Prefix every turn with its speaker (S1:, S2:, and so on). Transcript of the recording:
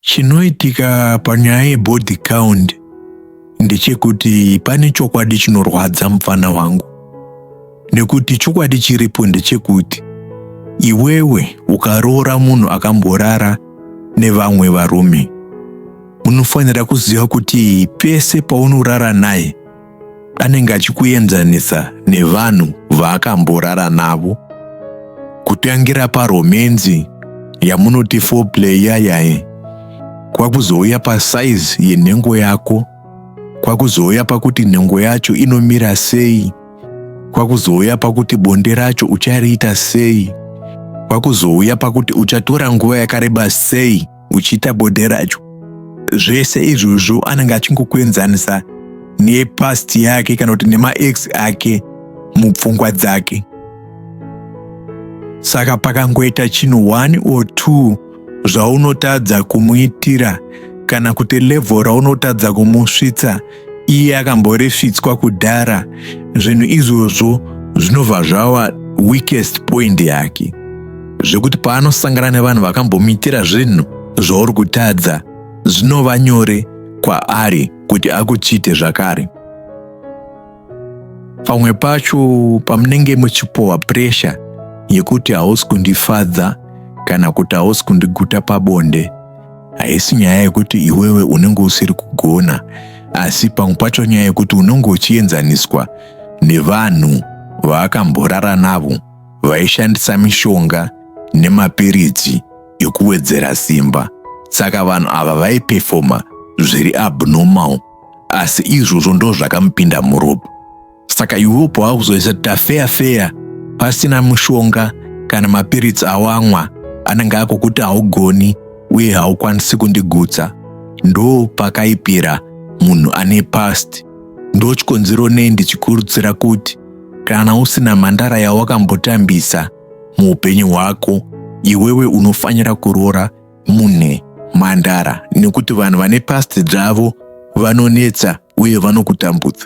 S1: Chinoitika panyaya yebody count ndechekuti pane chokwadi chinorwadza mupfana wangu nekuti chokwadi chiripo ndechekuti iwewe ukaroora munhu akamborara nevamwe varume unofanira kuziva kuti pese paunorara naye anenge achikuenzanisa nevanhu vaakamborara navo kutangira paromenzi yamunoti foreplay yayaye kwakuzouya pasaizi yenhengo yako kwakuzouya pakuti nhengo yacho inomira sei kwakuzouya pakuti bonde racho uchariita sei kwakuzouya pakuti uchatora nguva yakareba sei uchiita bonde racho zvese izvozvo anenge achingokuenzanisa nepast yake kana kuti nemaex ake mupfungwa dzake saka pakangoita chinhu one or two zvaunotadza kumuitira kana kuti levhel raunotadza kumusvitsa iye akamboresvitswa kudhara zvinhu izvozvo zvinobva zvava weakest point yake zvekuti paanosangana nevanhu vakambomuitira zvinhu zvauri kutadza zvinova nyore kwaari kuti akuchite zvakare pamwe pacho pamunenge muchipohwa puresha yekuti hausi kundifadza kana kuti hausi kundiguta pabonde haisi nyaya yekuti iwewe unenge usiri kugona asi pamwe pacho nyaya yekuti unenge uchienzaniswa nevanhu vaakamborara navo vaishandisa mishonga nemapiritsi ekuwedzera simba saka vanhu ava vaipefoma zviri abnormal asi izvozvo ndozvakamupinda muropa saka iwepo wakuzoisa kuti afeya feya pasina mushonga kana mapiritsi awamwa anenge akukuti haugoni uye haukwanisi kundigutsa ndo pakaipira munhu ane past ndo chikonzero nei ndichikurudzira kuti kana usina mhandara yawakambotambisa muupenyu hwako iwewe unofanira kuroora mune mhandara nekuti vanhu vane past dzavo vanonetsa uye vanokutambudza